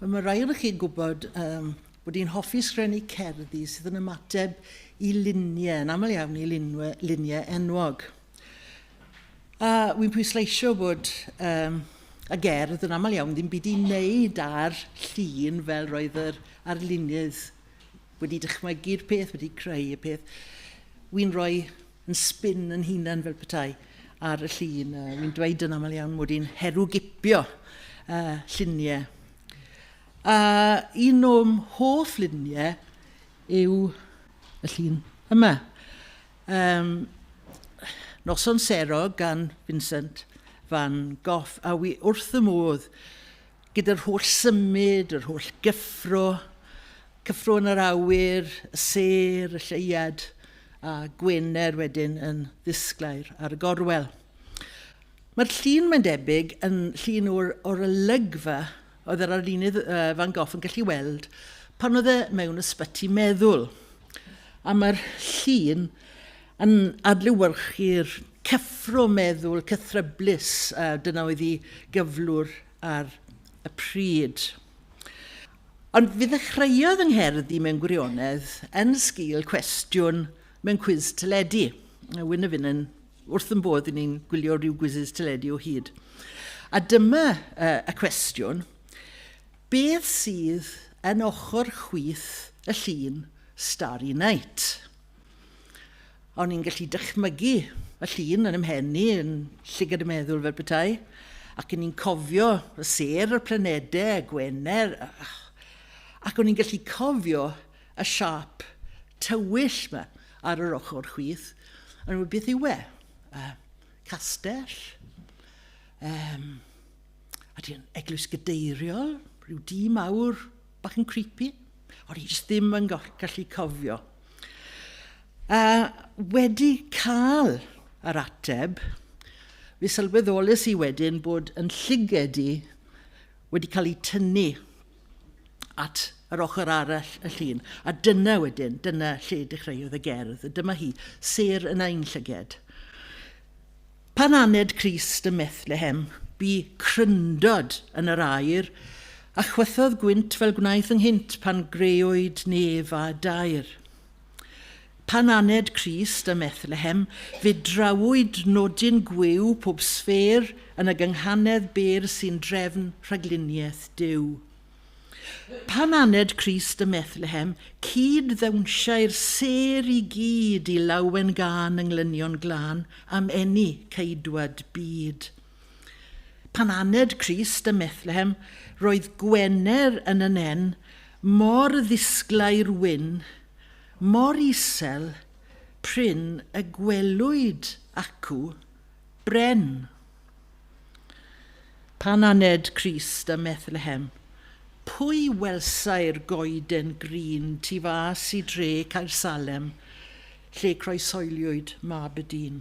Mae rhai ohonoch chi'n gwybod um, bod hi'n hoffi sgrenu cerddi sydd yn ymateb i luniau, yn aml iawn i lunwe, luniau enwog. A wy'n pwysleisio bod um, y gerdd yn aml iawn ddim byd i wneud ar llun fel roedd yr arlunydd wedi dychmygu'r peth, wedi creu y peth. Wy'n rhoi yn sbin yn hunan fel petai ar y llun. Uh, Wy'n dweud yn aml iawn mod i'n herwgipio uh, lluniau. A un o'm hoff luniau yw y llun yma. Um, Noson Sero gan Vincent Van Gogh, a wi wrth y modd Gyda'r holl symud, yr holl gyffro, cyffro yn yr awyr, y sêr, y lleuad, a Gwener wedyn yn ddisglair ar y gorwel. Mae'r llun, mae'n debyg, yn llun o'r, o'r olygfa oedd yr arlunydd uh, Van Gogh yn gallu weld pan oedd e mewn ysbyty meddwl. A mae'r llun yn adlewyrchu'r Cyffro meddwl cythryblus, a dyna oedd ei gyflwr ar y pryd. Ond fe ddechreuodd yng ngherdd i mewn gwirionedd yn sgil cwestiwn mewn cwis teledu. Wyn a Finn yn wrth yn bodd i ni'n gwylio rhyw gwisis teledu o hyd. A dyma uh, y cwestiwn, beth sydd yn ochr chwith y llun Starry Night? O'n i'n gallu dychmygu y llun yn ymhen i, yn llygad y meddwl fel petai, ac yn i'n cofio y ser, y planedau, y gwener, ac o'n i'n gallu cofio y siap tywyll yma ar yr ochr chwith, yn rhywbeth beth yw e? Uh, castell? Um, a ti'n eglwys gadeiriol, rhyw dî mawr, bach yn creepy. O'n i jyst ddim yn gallu cofio. A wedi cael yr ateb, fe sylweddolus i wedyn bod yn llyged i wedi cael ei tynnu at yr ochr arall y llun. A dyna wedyn, dyna lle dechreuodd y gerdd. Dyma hi, ser yn ein llyged. Pan aned Crist ym Methlehem, bu cryndod yn yr aer, a chwythodd gwynt fel gwnaeth ynghynt pan greuwyd nef a daear. Pan aned Crist ym Methlehem, fe drawwyd nodyn gwyw pob sffêr yn y gynghanedd bêr sy'n drefn rhagluniaeth Duw. Pan aned Crist ym Methlehem, cyd-ddewnsiai'r sêr i gyd i lawen gân yng nglynion glân am eni Ceidwad byd. Pan aned Crist ym Methlehem, roedd Gwener yn y nen, mor ddisglai'r wyn, mor isel, prin y gwelwyd acw, bren. Pan aned Crist ym Methlehem, pwy welsai'r goeden grîn tu fas i dre Caer Salem, lle croeshoeliwyd mab y dyn?